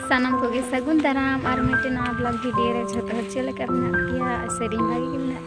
ᱥᱟᱱᱟᱢ ᱠᱚᱜᱮ ᱥᱟᱹᱜᱩᱱ ᱫᱟᱨᱟᱢ ᱟᱨ ᱢᱤᱫᱴᱮᱱ ᱱᱟᱣᱟ ᱵᱞᱚᱜ ᱵᱷᱤᱰᱤᱭᱳ ᱨᱮ ᱡᱷᱚᱛᱚ ᱦᱚᱲ ᱪᱮᱫ ᱞᱮᱠᱟ ᱢᱮᱱᱟᱜ ᱯᱮᱭᱟ ᱥᱮᱨᱮᱧ ᱵᱷᱟᱜᱮ ᱜᱮ ᱢᱮᱱᱟᱜ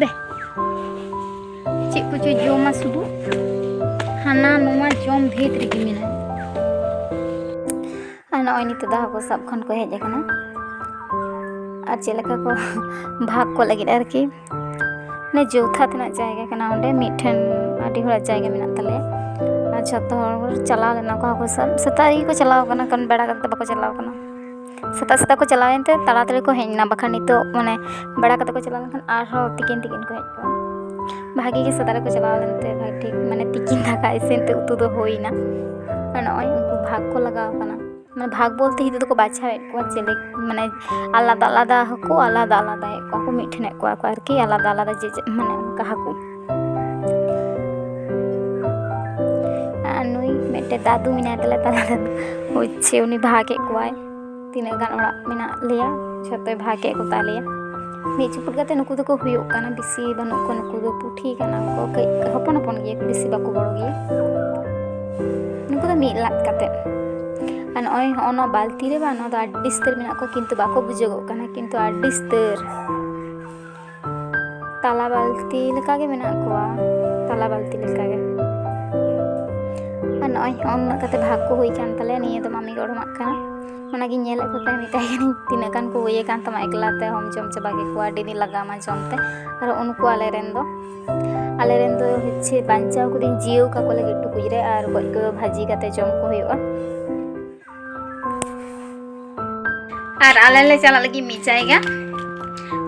ᱫᱮ ᱪᱮᱫ ᱠᱚᱪᱚ ᱡᱚᱢᱟ ᱥᱩᱫᱷᱩ ᱦᱟᱱᱟ ᱱᱚᱣᱟ ᱡᱚᱢ ᱵᱷᱮᱫ ᱨᱮᱜᱮ ᱢᱮᱱᱟᱜᱼᱟ ᱟᱨ ᱱᱚᱜᱼᱚᱭ ᱱᱤᱛᱚᱜ ᱫᱚ ᱦᱟᱹᱠᱩ ᱥᱟᱵ ᱠᱷᱚᱱ ᱠᱚ ᱦᱮᱡ ᱟᱠᱟᱱᱟ ᱟᱨ ᱪᱮᱫ ᱞᱮᱠᱟ ᱠᱚ ᱵᱷᱟᱜᱽ ᱠᱚ ᱞᱟᱹᱜᱤᱫ ᱟᱨᱠᱤ ᱢᱟᱱᱮ ᱡᱚᱛᱷᱟᱛ ᱨᱮᱱᱟᱜ ᱡᱟᱭᱜᱟ ᱠᱟᱱᱟ ᱚᱸᱰᱮ ᱢᱤᱫᱴᱷᱮᱱ ᱟᱹᱰᱤ ᱦᱚᱲᱟᱜ ᱡᱟᱭᱜᱟ ᱢᱮᱱᱟᱜ ᱛᱟᱞᱮᱭᱟ ᱟᱨ ᱡᱷᱚᱛᱚ ᱦᱚᱲ ᱪᱟᱞᱟᱣ ᱞᱮᱱᱟ ᱠᱚ ᱦᱟᱹᱠᱩ ᱥᱟᱵ ᱥᱮᱛᱟᱜ ᱨᱮᱜᱮ ᱠᱚ ᱪᱟᱞᱟᱣ ᱠᱟᱱᱟ ᱠᱟᱨᱚᱱ ᱵᱮᱲᱟ ᱠᱟᱛᱮᱫ ᱫᱚ ᱵᱟᱠᱚ ᱪᱟᱞᱟᱣ ᱠᱟᱱᱟ ᱥᱮᱛᱟᱜ ᱥᱮᱛᱟᱜ ᱠᱚ ᱪᱟᱞᱟᱣ ᱮᱱᱛᱮ ᱛᱟᱲᱟᱛᱟᱲᱤ ᱠᱚ ᱦᱮᱡ ᱮᱱᱟ ᱵᱟᱠᱷᱟᱱ ᱱᱤᱛᱚᱜ ᱢᱟᱱᱮ ᱵᱮᱲᱟ ᱠᱟᱛᱮᱫ ᱠᱚ ᱪᱟᱞᱟᱣ ᱞᱮᱱᱠᱷᱟᱱ ᱟᱨᱦᱚᱸ ᱛᱤᱠᱤᱱ ᱛᱤᱠᱤᱱ ᱠᱚ ᱦᱮᱡ ᱠᱚᱜᱼᱟ ᱵᱷᱟᱜᱮ ᱜᱮ ᱥᱮᱛᱟᱜ ᱨᱮᱠᱚ ᱪᱟᱞᱟᱣ ᱞᱮᱱᱛᱮ ᱵᱷᱟᱜᱮ ᱴᱷᱤᱠ ᱢᱟᱱᱮ ᱛᱤᱠᱤᱱ ᱫᱟᱠᱟ ᱤᱥᱤᱱ ᱛᱮ ᱩᱛᱩ ᱫᱚ ᱦᱩᱭᱱᱟ ᱟᱨ ᱱᱚᱜᱼᱚᱭ ᱩᱱᱠᱩ ᱵᱷᱟᱜᱽ ᱠᱚ ᱞᱟᱜᱟᱣ ᱠᱟᱱᱟ ᱢᱟᱱᱮ ᱵᱷᱟᱜᱽ ᱵᱚᱞᱛᱮ ᱱᱤᱛᱚᱜ ᱫᱚᱠᱚ ᱵᱟᱪᱷᱟᱣᱮᱫ ᱠᱚᱣᱟ ᱪᱤᱞᱤ ᱢᱟᱱᱮ ᱟᱞᱟᱫᱟ ᱟᱞᱟᱫᱟ ᱦᱚᱸᱠᱚ ᱟᱞᱟᱫᱟ ᱟᱞᱟᱫᱟᱭᱮᱫ ᱠᱚᱣᱟ ᱠᱚ ᱢᱤᱫ ᱴᱷᱮᱱᱮᱫ ᱠᱚᱣᱟ ᱠᱚ ᱟᱨᱠᱤ ᱟᱞᱟᱫᱟ ᱟᱞᱟᱫᱟ ᱡᱮ ᱡᱮ ᱢᱟᱱᱮ ᱚᱱᱠᱟ ᱦᱟᱹᱠᱩ ᱟᱨ ᱱᱩᱭ ᱢᱤᱫᱴᱮᱱ ᱫᱟᱫᱩ ᱢᱮᱱᱟᱭ ᱛᱟᱞᱮ ᱛᱟᱞᱟ ᱨᱮ ᱦᱚᱪᱪᱷᱮ ᱩᱱᱤ ᱵᱷᱟᱜᱮᱫ ᱠᱚᱣᱟᱭ ᱛᱤᱱᱟᱹᱜ ᱜᱟᱱ ᱚᱲᱟᱜ ᱢᱮᱱᱟᱜ ᱞᱮᱭᱟ ᱡᱷᱚᱛᱚᱭ ᱵᱷᱟᱜᱮᱫ ᱠᱚᱛᱟ ᱞᱮᱭᱟ ᱢᱤᱫ ᱪᱩᱯᱩᱫ ᱠᱟᱛᱮ ᱱᱩᱠᱩ ᱫᱚᱠᱚ ᱦᱩᱭᱩᱜ ᱠᱟᱱᱟ ᱵᱮᱥᱤ ᱵᱟᱹᱱᱩᱜ ᱠᱚᱣᱟ ᱱᱩᱠᱩ ᱫᱚ ᱯᱩᱴᱷᱤ ᱠᱟᱱᱟ ᱠᱚ ᱠᱟᱹᱡ ᱦᱚᱯᱚᱱ ᱦᱚᱯᱚᱱ ᱜᱮᱭᱟ ᱵᱮᱥᱤ ᱵᱟᱠᱚ ᱵᱚᱲᱚ ᱜᱮᱭᱟ ᱱᱩᱠᱩ ᱫᱚ ᱢᱤᱫ ᱞᱟᱫ ᱠᱟᱛᱮ ᱟᱨ ᱱᱚᱜᱼᱚᱭ ᱦᱚᱸᱜᱼᱚ ᱱᱚᱣᱟ ᱵᱟᱞᱛᱤ ᱨᱮ ᱵᱟᱝ ᱱᱚᱣᱟ ᱫᱚ ᱟᱹᱰᱤ ᱩᱥᱛᱟᱹᱨ ᱢᱮᱱᱟᱜ ᱠᱚᱣᱟ ᱠᱤᱱᱛᱩ ᱵᱟᱠᱚ ᱵᱩᱡᱷᱟᱹᱜᱚᱜ ᱠᱟᱱᱟ ᱠᱤᱱᱛᱩ ᱟᱹᱰᱤ ᱩᱥᱛᱟᱹᱨ ᱛᱟᱞᱟ ᱵᱟᱞᱛᱤ ᱞᱮᱠᱟᱜᱮ ᱢᱮᱱᱟᱜ ᱠᱚᱣᱟ ᱛᱟᱞᱟ ᱵᱟᱞᱛᱤ ᱞᱮᱠᱟᱜᱮ ᱟᱨ ᱱᱚᱜᱼᱚᱭ ᱦᱚᱸᱜᱼᱚ ᱱᱩᱱᱟᱹᱜ ᱠᱟᱛᱮ ᱵᱷᱟᱜᱽ ᱠᱚ ᱦᱩᱭ ᱠᱟᱱ ᱛᱟᱞᱮᱭᱟ ᱱᱤᱭᱟᱹ ᱫᱚ ᱢᱟᱢᱤ ᱜᱚᱲᱚᱢᱟᱜ ᱠᱟᱱᱟ ᱚᱱᱟᱜᱤᱧ ᱧᱮᱞᱮᱫ ᱠᱚ ᱛᱟᱦᱮᱸᱫ ᱢᱮᱛᱟᱭ ᱠᱟᱹᱱᱟᱹᱧ ᱛᱤᱱᱟᱹᱜ ᱜᱟᱱ ᱠᱚ ᱦᱩᱭ ᱟᱠᱟᱱ ᱛᱟᱢᱟ ᱮᱠᱞᱟ ᱛᱮ ᱦᱚᱢ ᱡᱚᱢ ᱪᱟᱵᱟ ᱠᱮᱫ ᱠᱚᱣᱟ ᱟᱹᱰᱤ ᱫᱤᱱ ᱞᱟᱜᱟᱣᱟᱢᱟ ᱡᱚᱢ ᱛᱮ ᱟᱨ ᱩᱱᱠᱩ ᱟᱞᱮ ᱨᱮᱱ ᱫᱚ ᱟᱞᱮ ᱨᱮᱱ ᱫᱚ ᱦᱚᱪᱪᱷᱮ ᱵᱟᱧᱪᱟᱣ ᱠᱚᱫᱚᱧ ᱡᱤᱭᱟᱹᱣ ᱠᱟᱠᱚ ᱞᱟᱹᱜᱤᱫ ᱴᱩᱠᱩᱡ ᱨᱮ ᱟᱨ ᱜᱚᱡ ᱠᱚᱫᱚ ᱵᱷᱟᱹᱡᱤ ᱠᱟᱛᱮ ᱡᱚᱢ ᱠᱚ ᱦᱩᱭᱩᱜᱼᱟ ᱟᱨ ᱟᱞᱮ ᱞᱮ ᱪᱟᱞᱟᱜ ᱞᱟᱹᱜᱤᱫ ᱢᱤᱫ ᱡᱟᱭᱜᱟ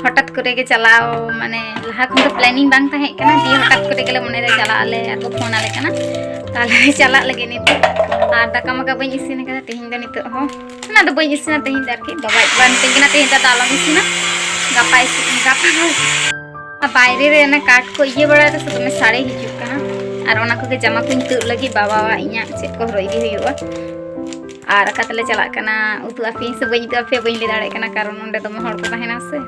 ᱦᱚᱴᱟᱛ ᱠᱚᱨᱮ ᱜᱮ ᱪᱟᱞᱟᱣ ᱢᱟᱱᱮ ᱞᱟᱦᱟ ᱠᱷᱚᱱ ᱫᱚ ᱯᱞᱮᱱᱤᱝ ᱵᱟᱝ ᱛᱟᱦᱮᱸ ᱠᱟᱱᱟ ᱫᱤᱭᱮ ᱦᱚᱴᱟᱛ ᱠᱚᱨᱮ ᱜᱮᱞᱮ ᱢᱚᱱᱮᱭᱮᱫᱟ ᱪᱟᱞᱟᱜ ᱟᱞᱮ ᱟᱨ ᱠᱚ ᱯᱷᱳᱱ ᱟᱞᱮ ᱠᱟᱱᱟ ᱛᱟᱦᱞᱮ ᱪᱟᱞᱟᱜ ᱞᱟᱹᱜᱤᱫ ᱱᱤᱛᱚᱜ ᱟᱨ ᱫᱟᱠᱟ ᱢᱟᱠᱟ ᱵᱟᱹᱧ ᱤᱥᱤᱱ ᱟᱠᱟᱫᱟ ᱛᱮᱦᱮᱧ ᱫᱚ ᱱᱤᱛᱚᱜ ᱦᱚᱸ ᱚᱱᱟ ᱫᱚ ᱵᱟᱹᱧ ᱤᱥᱤᱱᱟ ᱛᱮᱦᱮᱧ ᱫᱚ ᱟᱨᱠᱤ ᱵᱟᱵᱟ ᱵᱟᱝ ᱢᱤᱛᱟᱹᱧ ᱠᱟᱱᱟ ᱛᱮᱦᱮᱧ ᱫᱚ ᱟᱞᱚᱢ ᱤᱥᱤᱱᱟ ᱜᱟᱯᱟ ᱤᱥᱤᱱ ᱜᱟᱯᱟ ᱵᱟᱭᱨᱮ ᱨᱮ ᱚᱱᱟ ᱠᱟᱴ ᱠᱚ ᱤᱭᱟᱹ ᱵᱟᱲᱟᱭᱮᱫᱟ ᱥᱮ ᱫᱚᱢᱮ ᱥᱟᱲᱮ ᱦᱤᱡᱩᱜ ᱠᱟᱱᱟ ᱟᱨ ᱚᱱᱟ ᱠᱚᱜᱮ ᱡᱟᱢᱟ ᱠᱚᱧ ᱛᱩᱫ ᱞᱟᱹᱜᱤᱫ ᱵᱟᱵᱟᱣᱟᱜ ᱤᱧᱟᱹᱜ ᱪᱮᱫ ᱠᱚ ᱦᱚᱨᱚᱜ ᱤᱫᱤ ᱦᱩᱭᱩᱜᱼᱟ ᱟᱨ ᱟᱠᱟ ᱛᱮᱞᱮ ᱪᱟᱞᱟᱜ ᱠᱟᱱᱟ ᱩᱛᱩ ᱟᱯᱮ ᱥᱮ ᱵᱟᱹᱧ ᱩᱛᱩ ᱟᱯᱮ ᱵᱟᱹᱧ ᱞᱟᱹᱭ ᱫᱟᱲᱮᱭᱟᱜ ᱠᱟᱱᱟ ᱠᱟᱨᱚᱱ ᱚᱸᱰᱮ ᱫᱚᱢᱮ ᱦᱚᱲ ᱠᱚ ᱛᱟᱦᱮᱱᱟ ᱥᱮ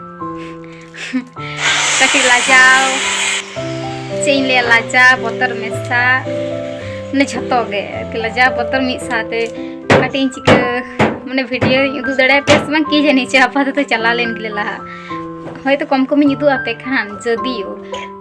ᱠᱟᱹᱴᱤᱡ ᱞᱟᱡᱟᱣ ᱪᱮᱫ ᱤᱧ ᱞᱟᱹᱭᱟ ᱞᱟᱡᱟ ᱵᱚᱛᱚᱨ ᱢᱮᱥᱟ ᱢᱟᱱᱮ ᱡᱷᱚᱛᱚ ᱜᱮ ᱟᱨᱠᱤ ᱞᱟᱡᱟ ᱵᱚᱛᱚᱨ ᱢᱤᱫ ᱥᱟᱶᱛᱮ ᱠᱟᱹᱴᱤᱡ ᱤᱧ ᱪᱤᱠᱟᱹ ᱢᱟᱱᱮ ᱵᱷᱤᱰᱤᱭᱳ ᱤᱧ ᱩᱫᱩᱜ ᱫᱟᱲᱮᱭᱟ ᱯᱮᱭᱟ ᱥᱮ ᱵᱟᱝ ᱠᱤ ᱡᱟᱹᱱᱤ ᱪᱚ ᱟᱯᱟᱛᱚᱛᱚ ᱪᱟᱞᱟᱣ ᱞᱮᱱ ᱜᱮᱞᱮ ᱞᱟᱦᱟ ᱦᱚᱭᱛᱚ ᱠᱚᱢ ᱠᱚᱢᱤᱧ ᱩᱫᱩᱜ ᱟᱯᱮ ᱠᱷᱟᱱ ᱡᱚᱫᱤᱭᱳ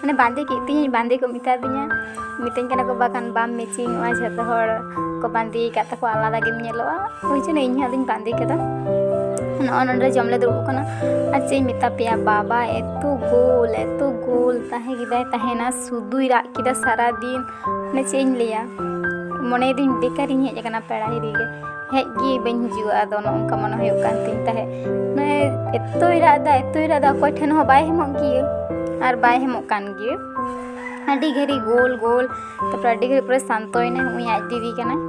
ᱢᱟᱱᱮ ᱵᱟᱸᱫᱮ ᱠᱮᱫ ᱛᱤᱧᱟᱹ ᱵᱟᱸᱫᱮ ᱠᱚ ᱢᱮᱛᱟ ᱫᱤᱧᱟ ᱢᱤᱛᱟᱹᱧ ᱠᱟᱱᱟ ᱠᱚ ᱵᱟᱠᱷᱟᱱ ᱵᱟᱢ ᱢᱮᱪᱤᱝᱚᱜᱼᱟ ᱡᱷᱚᱛᱚ ᱦᱚᱲ ᱠᱚ ᱵᱟᱸᱫᱮ ᱟᱠᱟᱫ ᱛᱟᱠᱚ ᱟᱞᱟᱫᱟ ᱜᱮᱢ ᱧᱮᱞᱚᱜᱼᱟ ᱳᱭ ᱡᱚᱱᱱᱚ ᱤᱧ ᱦᱚᱸ ᱟᱫᱚᱧ ᱵᱟᱸᱫᱮ ᱠᱮᱫᱟ ᱱᱚᱜᱼᱚ ᱱᱚᱰᱮ ᱡᱚᱢ ᱞᱮ ᱫᱩᱲᱩᱵ ᱠᱟᱱᱟ ᱟᱨ ᱪᱮᱫ ᱤᱧ ᱢᱮᱛᱟ ᱯᱮᱭᱟ ᱵᱟᱵᱟ ᱮᱛᱚ ᱜᱳᱞ ᱮᱛᱚ ᱜᱳᱞ ᱛᱟᱦᱮᱸ ᱠᱮᱫᱟᱭ ᱛᱟᱦᱮᱱᱟ ᱥᱩᱫᱩᱭ ᱨᱟᱜ ᱠᱮᱫᱟ ᱥᱟᱨᱟᱫᱤᱱ ᱢᱟᱱᱮ ᱪᱮᱫ ᱤᱧ ᱞᱟᱹᱭᱟ ᱢᱚᱱᱮᱭᱮᱫᱟᱹᱧ ᱵᱮᱠᱟᱨᱤᱧ ᱦᱮᱡ ᱟᱠᱟᱱᱟ ᱯᱮᱲᱟ ᱦᱤᱨᱤ ᱜᱮ ᱦᱮᱡ ᱜᱮ ᱵᱟᱹᱧ ᱦᱤᱡᱩᱜᱼᱟ ᱟᱫᱚ ᱱᱚᱜ ᱱᱚᱝᱠᱟ ᱢᱚᱱᱮ ᱦᱩᱭᱩᱜ ᱠᱟᱱ ᱛᱤᱧ ᱛᱟᱦᱮᱸᱫ ᱢᱟᱱᱮ ᱮᱛᱚᱭ ᱨᱟᱜ ᱮᱫᱟ ᱮᱛᱚᱭ ᱨᱟᱜ ᱮᱫᱟ ᱚᱠᱚᱭ ᱴᱷᱮᱱ ᱦᱚᱸ ᱵᱟᱭ ᱦᱮᱢᱚᱜ ᱜᱮᱭᱟ ᱟᱨ ᱵᱟᱭ ᱦᱮᱢᱚᱜ ᱠᱟᱱ ᱜᱮᱭᱟ ᱟᱹᱰᱤ ᱜᱷᱟᱹᱲᱤ ᱜᱳᱞ ᱜᱳᱞ ᱛᱟᱨᱯᱚᱨ ᱟᱹᱰᱤ ᱜᱷᱟᱹᱲᱤ ᱯᱚᱨᱮ ᱥᱟᱱᱛᱚᱭᱮᱱᱟ ᱩᱱᱤ ᱟᱡ ᱫᱤᱫᱤ ᱠᱟᱱᱟᱭ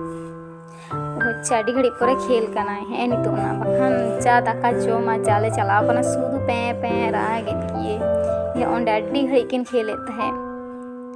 ᱦᱚᱪᱪᱷᱮ ᱟᱹᱰᱤ ᱜᱷᱟᱹᱲᱤ ᱯᱚᱨᱮ ᱠᱷᱮᱞ ᱠᱟᱱᱟᱭ ᱦᱮᱸ ᱱᱤᱛᱚᱜ ᱚᱱᱟ ᱵᱟᱠᱷᱟᱱ ᱪᱟ ᱫᱟᱠᱟ ᱡᱚᱢᱟ ᱪᱟᱞᱮ ᱪᱟᱞᱟᱣ ᱠᱟᱱᱟ ᱥᱩᱫᱷᱩ ᱯᱮᱸ ᱯᱮᱸ ᱨᱟᱜᱮᱫ ᱜᱮᱭᱟᱭ ᱚᱸᱰᱮ ᱟᱹᱰᱤ ᱜᱷᱟᱹᱲᱤᱡ ᱠᱤᱱ ᱠᱷᱮᱞᱮᱫ ᱛᱟᱦᱮᱸᱫ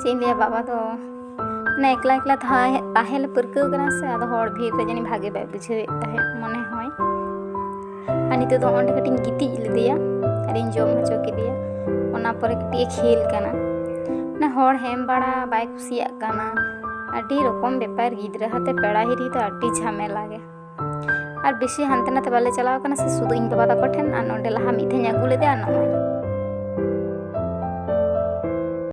ᱪᱮᱫ ᱤᱧ ᱞᱟᱹᱭᱟ ᱵᱟᱵᱟ ᱫᱚ ᱢᱟᱱᱮ ᱮᱠᱞᱟ ᱮᱠᱞᱟ ᱛᱟᱦᱮᱸ ᱛᱟᱦᱮᱸ ᱞᱮ ᱯᱟᱹᱨᱠᱟᱹᱣ ᱠᱟᱱᱟ ᱥᱮ ᱟᱫᱚ ᱦᱚᱲ ᱵᱷᱤᱲ ᱨᱮ ᱡᱟᱹᱱᱤᱡ ᱵᱷᱟᱜᱮ ᱵᱟᱭ ᱵᱩᱡᱷᱟᱹᱣᱮᱫ ᱛᱟᱦᱮᱸᱫ ᱢᱚᱱᱮ ᱦᱚᱭ ᱟᱨ ᱱᱤᱛᱚᱜ ᱫᱚ ᱚᱸᱰᱮ ᱠᱟᱹᱴᱤᱡ ᱤᱧ ᱜᱤᱛᱤᱡ ᱞᱮᱫᱮᱭᱟ ᱟᱨᱤᱧ ᱡᱚᱢ ᱦᱚᱪᱚ ᱠᱮᱫᱮᱭᱟ ᱚᱱᱟ ᱯᱚᱨᱮ ᱠᱟᱹᱴᱤᱡ ᱮ ᱠᱷᱮᱞ ᱠᱟᱱᱟ ᱢᱟᱱᱮ ᱦᱚᱲ ᱦᱮᱢ ᱵᱟᱲᱟ ᱵᱟᱭ ᱠᱩᱥᱤᱭᱟᱜ ᱠᱟᱱᱟ ᱟᱹᱰᱤ ᱨᱚᱠᱚᱢ ᱵᱮᱯᱟᱨ ᱜᱤᱫᱽᱨᱟᱹ ᱦᱟᱛᱮ ᱯᱮᱲᱟ ᱦᱤᱨᱤ ᱫᱚ ᱟᱹᱰᱤ ᱡᱷᱟᱢᱮᱞᱟ ᱜᱮ ᱟᱨ ᱵᱮᱥᱤ ᱦᱟᱱᱛᱮ ᱱᱟᱛᱮ ᱵᱟᱞᱮ ᱪᱟᱞᱟᱣ ᱠᱟᱱᱟ ᱥᱮ ᱥᱩᱫᱷᱩ ᱤᱧ ᱵᱟᱵᱟ ᱛᱟᱠᱚ ᱴᱷᱮᱱ ᱟᱨ ᱱᱚᱸᱰᱮ ᱞᱟᱦᱟ ᱢᱤᱫ ᱫᱷᱟᱣ ᱤᱧ ᱟᱹᱜᱩ ᱞᱮᱫᱮᱭᱟ ᱱᱚᱜᱼᱚᱭ